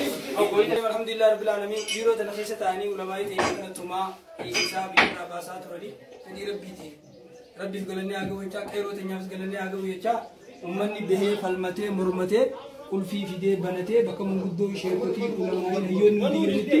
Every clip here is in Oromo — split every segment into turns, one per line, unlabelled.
Alhamdulillah Rabbil Alamin biiroo tana keessa ta'anii ulamaa'ii ta'e kana tumaa dhiisisaa biyyarraa baasaa turanii fedhii rabbii ta'e rabbiif galanni haa ga'u jechaa qeeroo teenyaafis galanni haa ga'u jechaa ummanni bahee falmatee mormatee qulfii fidee banatee bakka manguddoo sheekotii ulamaa'ii hayyoonni hundi jiranitti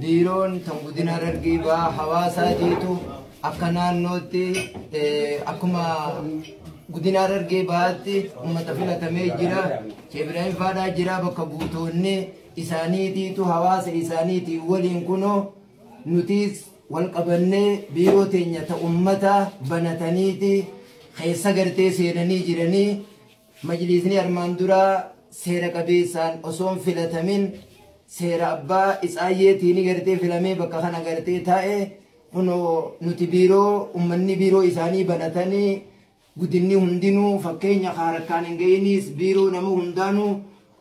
Biiroon kan Godina Harargee Bahaa hawaasaa jeetu akka naannootti akkuma Godina Harargee Bahaatti uummata filatamee jira. Sheekh Ibraahim Faadhaa jira bakka buutoonni isaaniitiitu hawaasa isaaniitiin waliin kunoo nutis wal qabannee biiroo teenya ta ummata banataniiti keessa gartee seenanii jiranii Majliisni armaan duraa seera qabeessaan osoo hin filatamin seera abbaa itsaayyeetiin gartee filamee bakka kana gartee taa'e kunoo nuti biiroo ummanni biiroo isaanii banatanii gudinni hundinuu fakkeenya ka harkaan hin ga'iniis biiroo nama hundaanuu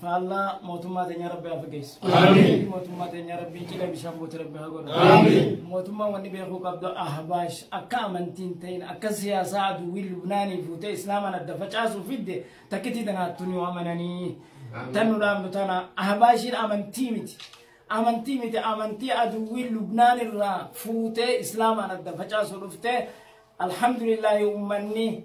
faallaa mootummaa teenya rabbi haa fageessu. Mootummaa teenya rabbi cidha bishaan buute rabbi haa godhu. Mootummaa wanni beekuu qabdu ahbaash akka amantiin ta'in akka siyaasaa aduwwii lubnaanii fuutee islaamaan adda facaasuu fidde takkitii tanaattu ni amananii. Tan nu dhaabnu tana ahbaashiin amantii miti. Amantii miti amantii aduwwii lubnaan irraa fuutee islaamaan adda facaasuu dhuftee alhamdulillahi ummanni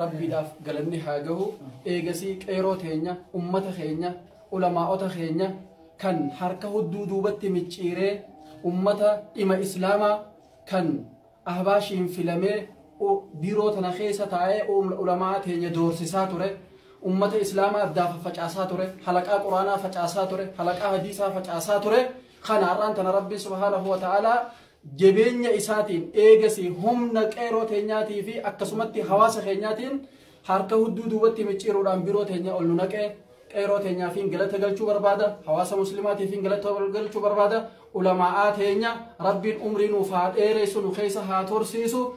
Rabbiidhaaf galanni haa gahu eegasii qeeroo teenya ummata keenya ulamaa'ota keenya kan harka hudduu duubatti micciiree ummata dhima islaamaa kan ahbaashiin filamee u- biiroo tana keessa taa'ee um- ulamaa teenya doorsisaa ture ummata islaamaa addaa faffacaasaa ture halaqaa quraanaa facaasaa ture halaqaa hadiisaa facaasaa ture kana har'aan tana rabbiin subhaanahu wa ta'aalaa Jabeenya isaatiin eegasii humna qeeroo teenyaatii fi akkasumatti hawaasa keenyaatiin harka hudduu duubatti micciiruudhaan biroo teenya ol nu naqe. Qeeroo teenyaafiin galata galchuu barbaada. Hawaasa muslimaatiifiin galata galchuu barbaada. Ulamaa'aa teenya Rabbiin umrii nuuf haa dheeressu nu keessa haa tursiisu.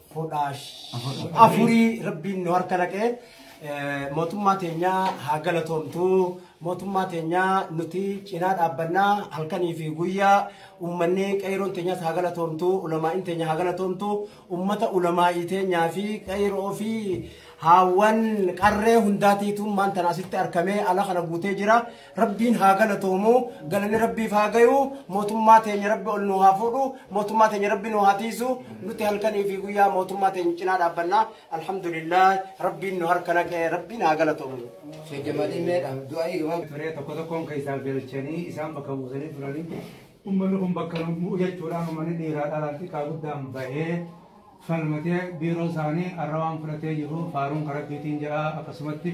fudhaa afurii rabbiin nu harka naqee eh, mootummaa teenyaa haa galatoomtu mootummaa teenyaa nuti cinaa dhaabbannaa halkanii fi guyyaa uummanni qeeroon teenyaas haa galatoomtu ulamaa'in teenya haa galatoomtu uummata ulamaa'ii teenyaa fi qeeroo fi haawwan qarree hundaatiitu maanta asitti argamee ala kana guutee jira Rabbiin haa galatoomu galanni rabbiif haa gayu mootummaa teenya rabbi ol nuu haa fuudhu mootummaa teenya rabbi nuu haa tiisu nuti halkanii fi guyyaa mootummaa teenya cinaa dhaabbanna alhamdulillah rabbiin nu harka naqee rabbiin haa galatoomu. Sheekh Jamaaliin mee
dhaam du'aa'ii gabaabaa. Turee tokko tokkoon keessaa
galchanii isaan bakka buusanii turanii ummanni kun bakka nu bu'u jechuudhaan ummanni dhiiraa dhalaan xiqqaa guddaan bahee falmatee biiroo isaanii arra waan fudhatee jiru faaruun karabbiitiin jedha akkasumatti